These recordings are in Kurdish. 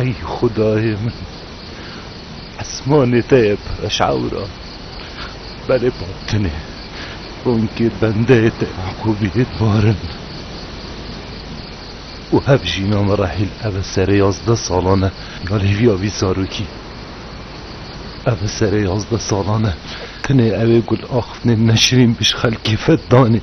Ey xudayê min esmanê te ye peşewra berê batinê bonkê bendeyê te Yaqûbiyê dibarin û hev jîna me re hîl eve serê yazdeh salan e ya lêviya vî zarokî eve serê yazdeh salan e tenê ew ê gul axiftinê Neşrîn bişxelkê fed danê.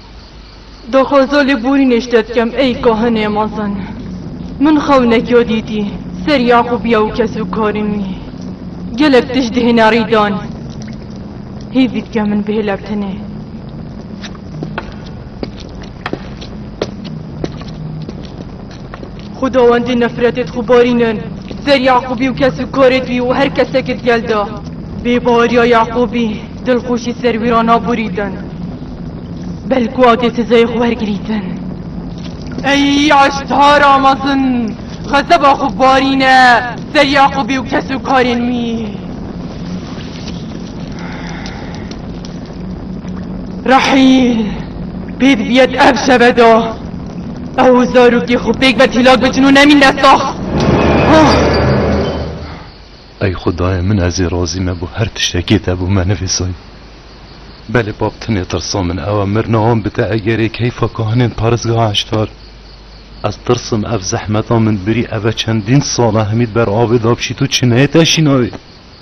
Daxwaza lêborînê ji te dikem ey kahinê mezin. Min xewnekya dîtî ser Yaqûbiya û kesûkarên wî. Gelek tişt dihêne rîdan. Hêvî dike min bihêlek tenê. Xwedawendê nefretê di xwe barînin ser Yaqûbî û kes û karê di wî û her kesekê di gel de. Bê baweriya Yaqûbî dilxweşî ser wî re naborîtin. Belku a dê sezayê xwe wergirîtin. Ey eştara mezin, xezeba xwe barîne ser Yaqûbî û kes û karên wî. Rehîl pê dibiyet ev şeve de. Ew û zarokê xwe pêk be tîlak bikin û nemîn ne sax. Ey xwedayê min ez ê razî me bo her tiştekê te bo me nivîsayî. Belê bab tenê tirsa min ew e mir nawan bide egerê keyfa kahinên parêzgeha heşdar. Ez tirsim ev zehmeta min birî ev e çendîn sal e hemî ber avê da biçî tu çineyê te şînayê.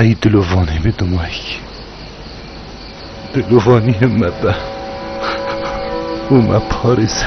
Ey dilo vanê me domayîkî. Dilo vanî me be û me parêze.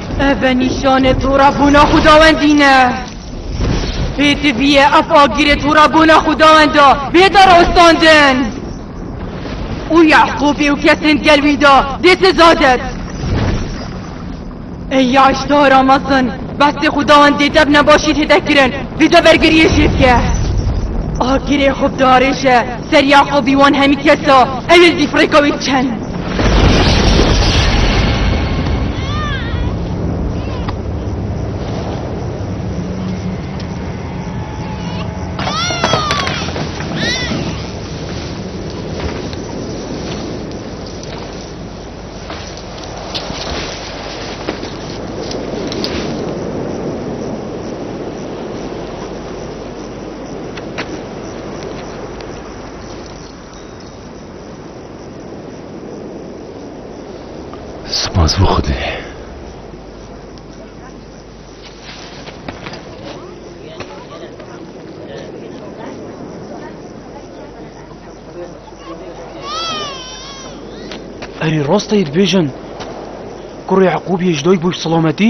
Ev e nîşanê torabûna xwedawendî ne. Pêdiviye ev agirê torabûna xwedawenda bê darostandin. Û Yaqûbî û kesên di gel wî de dê seza dit. Ey ya îştara mezin bestê xwedawendê dev nebaşî tê de kirin vî de bergiriyê jê bike. Agirê xwe bidarêje. Serya xwe bî wan hemî kes a, ew ê zî firêka wê çend. Spas bû xwedê. Erê rasta yê dibêjin. Kurê Eqûbiyê ji dayik bû ji selametî.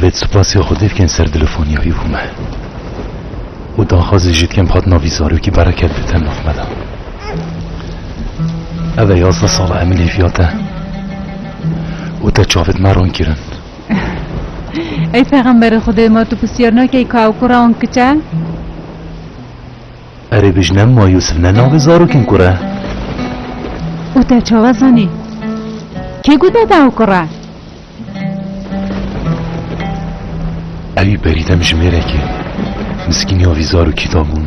Vêt spasiya xwe dê dikin ser dilefoniya wî bû me. û daxwazê jî dikim hat navî zarokî bereket bidin nav me de. Ev e yazdeh sala em li vîya te û te çavêt me ron kirin. Ey pexemberê Xwedê ma tu pisyar nakey ka ew kura an kiçe? Erê bijne ma Yûsif ne navê zarokên kur e. Û te çawa zanî? Kê got bebe ew kur e? Ewî berî dem ji mêrekê miskîniya vî zarokî dabûn.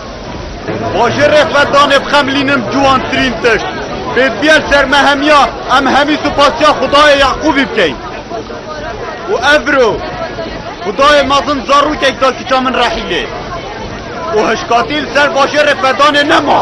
Bajê Refetanê bi xemilînin ciwantirîn tişt. Pêdiviyên sermehemiya em hemî supasiya Xwedayê Yaqûbî bikeyn. Û ev biro Xwedayê mezin zarokek da kiça min Rehîlê. Û hişkatî li ser bajê Refetanê nema.